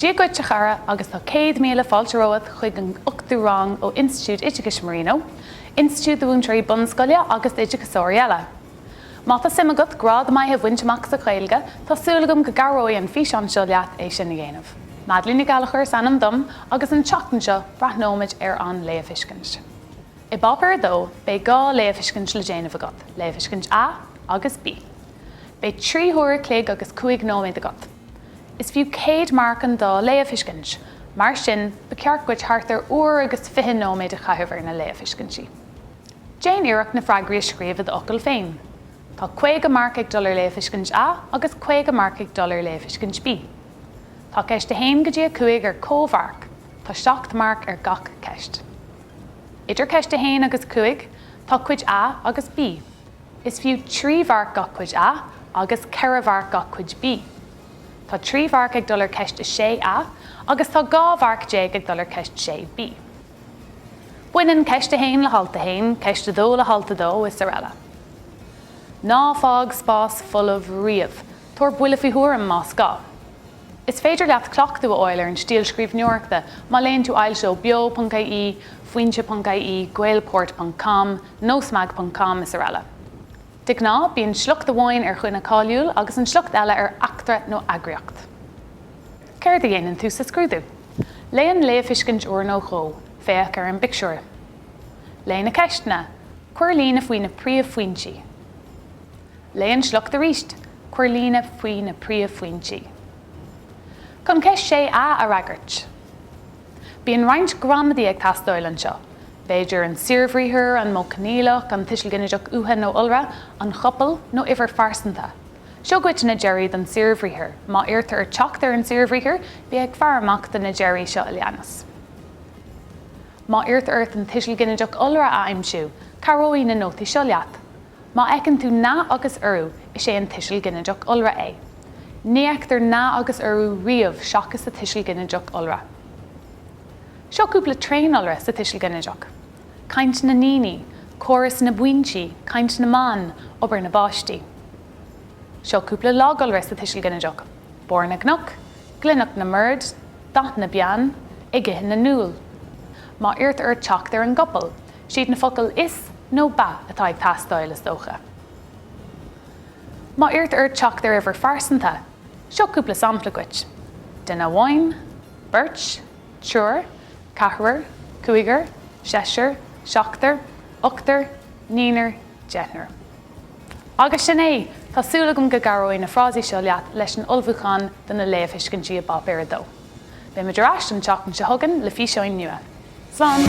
Dia dhuit a chara agus tá céad míle fáilte romhat chuig an ochtú rang ó Institiúid Oideachais Marino, institiúid do mhúinteoirí bunscoile agus d'oideachasóirí eile. Má tá suim agat grád maith a bhaint amach sa Ghaeilge tá súil agam go gcabhróidh an físeán seo leat é sin a dhéanamh. Madeleine Ní Ghallchobhair is ainm dom agus an tseachtain seo breathnóimid ar an léamhthuiscint. I bpáipéar a dó beidh dhá léamhthuiscint le déanamh agat, Léamhthuiscint A agus B. Beidh trí huair a chloig agus cúig nóiméad agat. Is fiú 100 marc an dá léamhthuiscint. Mar sin, ba cheart duit thart ar uair agus fiche nóiméad a chaitheamh ar na léamhthuiscintí. Déan iarracht na freagraí a scríobh i d'fhocail féin. Tá 50 marc ag dul ar léamhthuiscint A agus 50 marc ag dul ar léamhthuiscint B. Tá ceist 1 go dtí 5 ar comh-mharc, tá 7 marc ar gach ceist. Idir ceist 1 agus 5, tá cuid A agus B. Is fiú trí mharc gach cuid A agus ceithre mharc gach cuid B. Tá trí mharc ag dul ar cheist 6A agus tá 12 mharc ag dul ar cheist 6B. Baineann ceist 1 le halt 1, ceist 2 le halt 2 is araile. Ná fág spás folamh riamh, tabhair buille faoi thuairim más gá. Is féidir leat cleachtadh a fháil ar an stíl scríbhneoireachta má léann tú ailt ó Beo.ie, Foinse.ie, Gaelport ponc com, Nósmag ponc com is araile. De ghnáth bíonn sliocht amháin ar dhuine cáiliúil agus an sliocht eile ar eachtra nó eagraíocht. Céard a dhéanann tú sa scrúdú? Léigh an léamhthuiscint uair nó dhó, féach ar an bpictiúr. Léigh na ceisteanna. Cuir líne faoi na príomhphointí. Léigh an sliocht arís. Cuir líne faoi na príomhphointí. Chun ceist 6A a fhreagairt. Bíonn roinnt gramadaí ag teastáil anseo, b'fhéidir an saorbhriathar, an modh coinníollach, an tuiseal ginideach uatha nó iolra, an chopail, nó uimhir phearsanta. Seo duit na deirí don saorbhriathar. Má iarrtar ort teacht ar an saorbhriathar, bí ag faire amach do na deirí seo a leanas. Má iarrtar ort an tuiseal ginideach iolra a aimsiú, cabhróidh na nótaí seo leat. Má fheiceann tú na agus urú, is é an tuiseal ginideach iolra é. Ní fheictear na agus urú riamh seachas sa tuiseal ginideach iolra. Seo cúpla tréaniolra sa tuiseal ginideach, caint na ndaoine, córas na bpointí, caint na mban, obair na bpáistí. Seo cúpla lagiolra sa tuiseal ginideach, barr na gcnoc, glanadh na mbord, dath na bpeann, ag ithe na n-úll. Má iarrtar ort teacht ar an gcopail, Siad na focail 'Is' nó 'Ba' atá ag teastáil, is dócha. Má iarrtar ort teacht ar uimhir phearsanta, seo cúpla sampla duit, duine amháin, beirt, triúr, ceathrar, cúigear, seisear, seachtar, ochtar, naonar, deichniúr. Agus sin é! Tá súil agam go gcabhróidh na frásaí seo leat leis an ullmhúchán do na léamhthuiscintí i bPáipéar 2. Beidh muid ar ais an tseachtain seo chugainn le físeáin nua. Slán!